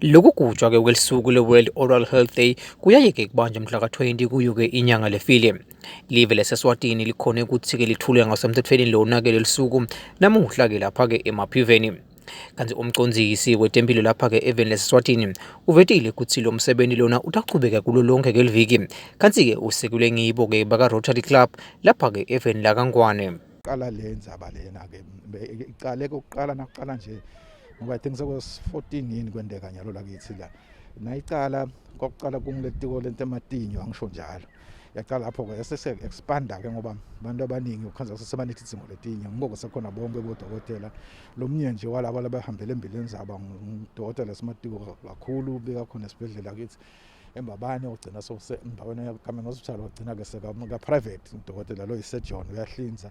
Lokugujwa ke kwelisuku le-World Oral Health Day kuyayeke kubanjwa mhla ka-20 kuyo ke inyanga lefile. Live laseSwatini likhone ukuthi ke lithule ngasemthethweni lona ke lelisuku namuhla ke lapha ke emaphiveni. Kanti umcondzisi wetempilo lapha ke eveni laseSwatini uvetile ukuthi lo msebenzi lona utachubeka kulo lonke ngeliviki. Kanti ke usekelwe ngibo ke baka Rotary Club lapha ke eveni lakaNgwane. Qala le ndzaba lena ke iqale kokuqala nakuqala nje ngoba i think sekos 14 yini kwendeka nyalo lakithi la nayicala kwakuqala kumletiko lento ematinyo angisho njalo yaqala lapho ke sese expanda ke ngoba abantu abaningi ukhanza sesebanethi izingo letinye ngoko sekhona bonke bodokotela lomnye nje walabo labahambele embileni zaba ngudokotela simatiko kakhulu beka khona esibhedlela kithi embabane ogcina sose embabane yakamenga hospital ogcina ke seka private udokotela lo isejohn uyahlinza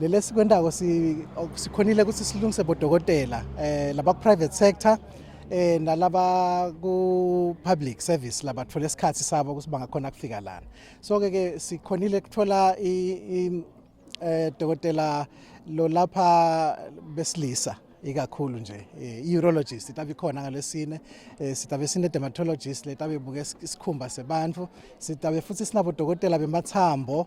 Lele sikwendako sikhonile ukuthi silungise bodokotela eh laba private sector eh nalaba ku public service labathola isikhathi sabo ukuthi bangakhona kufika lana so ke ke sikhonile kuthola i eh dokotela lo lapha besilisa ikakhulu nje eh, i-urologist itabe ikhona ngalesine eh, sitabe sine-dermatologist letabe ibuke isikhumba sebantu sitabe futhi sinabodokotela bemathambo